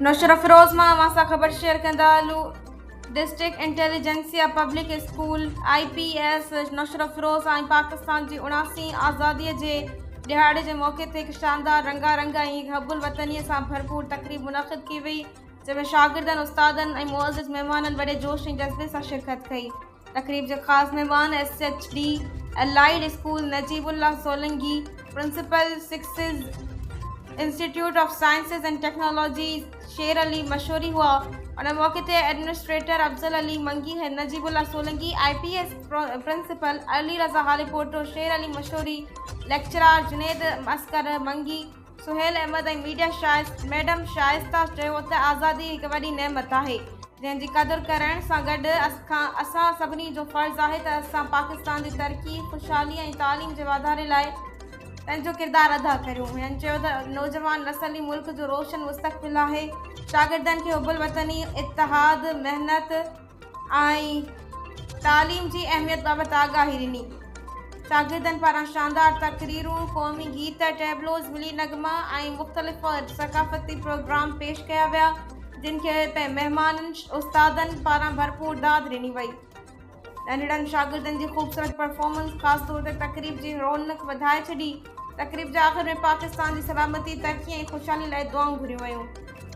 نوشهرافيروز مان اوهان سان خبر شيئر ڪندا هلون district intelligentsia public school I P S Naushahro Feroze ۽ Pakistan جي اڻاسين آزادي جي ڏهاڙي جي موقعي تي هڪ شاندار رنگا رنگ ۽ حب الوطني سان ڀرپور تقريب منعقد ڪئي وئي جنهن ۾ شاگردن استادن ۽ معزز مهمانن وڏي جوش ۽ جذبي سان شرڪت ڪئي تقريب جا خاص مهمان S H D allied school Najeeb Allah Solangi, principal سڪسز institute of sciences and technology Sher Ali Mashori هئا، ان موقعي تي administrator Afzal Ali Mangi, Najeeb Allah Solangi, I P S principal Ali Raza Haripoto, Sher Ali Mashori, lecturer Junaid Askar Mangi, Sohail Ahmed ۽ media Shaista madam Shaista چيو ته آزادي هڪ وڏي نعمت آهي جنهن جي قدر ڪرڻ سان گڏ اسان سڀني جو فرض آهي ته اسان پاڪستان جي ترقي خوشحالي ۽ تعليم جي واڌاري لاء پنهنجو ڪردار ادا ڪريون هن چيو ته نوجوان نسل ئي ملڪ جو روشن مستقبل آهي شاگردن کي حب الوطني اتحاد محنت ۽ تعليم جي اهميت بابت آگاهي ڏني. شاگردن پاران شاندار تقريرون، قومي گيت، ٽيبلوز، ملي نغمه ۽ مختلف ثقافتي پروگرام پيش ڪيا ويا، جن کي مهمانن استادن پاران ڀرپور داد ڏني وئي. ننڍڙن شاگردن جي خوبصورت پرفارمنس خاص طور تي تقريب جي رونق وڌائي ڇڏي. تقريب جي آخر ۾ پاڪستان جي سلامتي، ترقي ۽ خوشحالي لاء دعائون گهريون ويون.